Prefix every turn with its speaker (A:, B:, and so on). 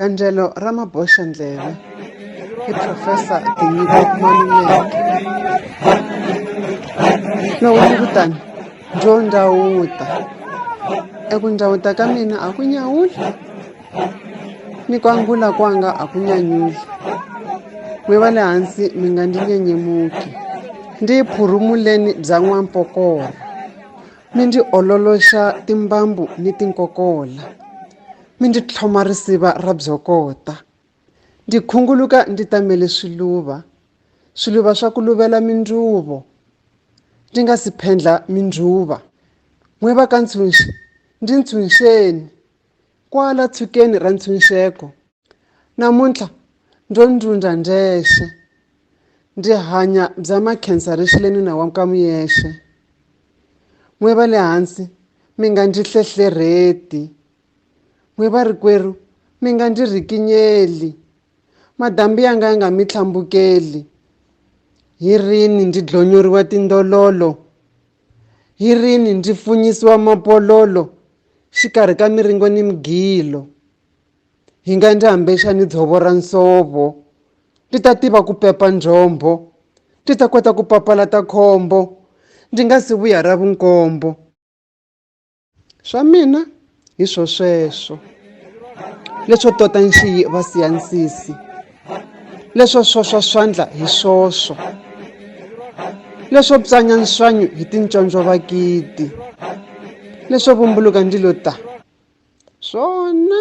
A: Gandzelo ra maboxandleve hi Profesa Tinyiko Maluleke. Loko ni kutani byo ndhawuta eku ndhawuta ka mina a ku nyawuli ni ku angula kwanga a ku nyanyuli n'we va le hansi mi nga ndzi nyenyemuki ndzi yi phurumuleni bya n'wampokora mi ndzi ololoxa timbambu ni tinkokola mi ndzi tlhoma risiva ra byokota ndzi khunguluka ndzi tamele swiluva swiluva swa ku luvela mindzuvo ndzi nga si phendla mindzuva n'we va ka ntshunxi ndzi ntshunxeni kwala tshukeni ra ntshunxeko namuntlha ndzo ndzundza ndzexe ndzi hanya bya makhensa rixile nuna wa ka muyexe n'we va le hansi mi nga ndzi hlehlerheti N'we varikwerhu, mi nga ndzi rikinyeli, madambi ya nga ya nga mi tlhambukeli. Hi rini ndzi dlonyoriwa tindololo? Hi rini ndzi funyisiwa mapololo xikarhi ka miringo ni migilo? Hi nga ndzi hambexa ni dzovo ra nsovo, ndzi ta tiva ku pepa njhombho, ndzi ta kota ku papalata khombo, ndzi nga si vuya ra vunkombo. swa mina hi swo sweswo leswo tota nxiyi va siya nsisi leswo swoswa swandla hi swoswo leswo psanya nswanyu hi tinconco va kiti leswo vumbuluka ndilo ta swona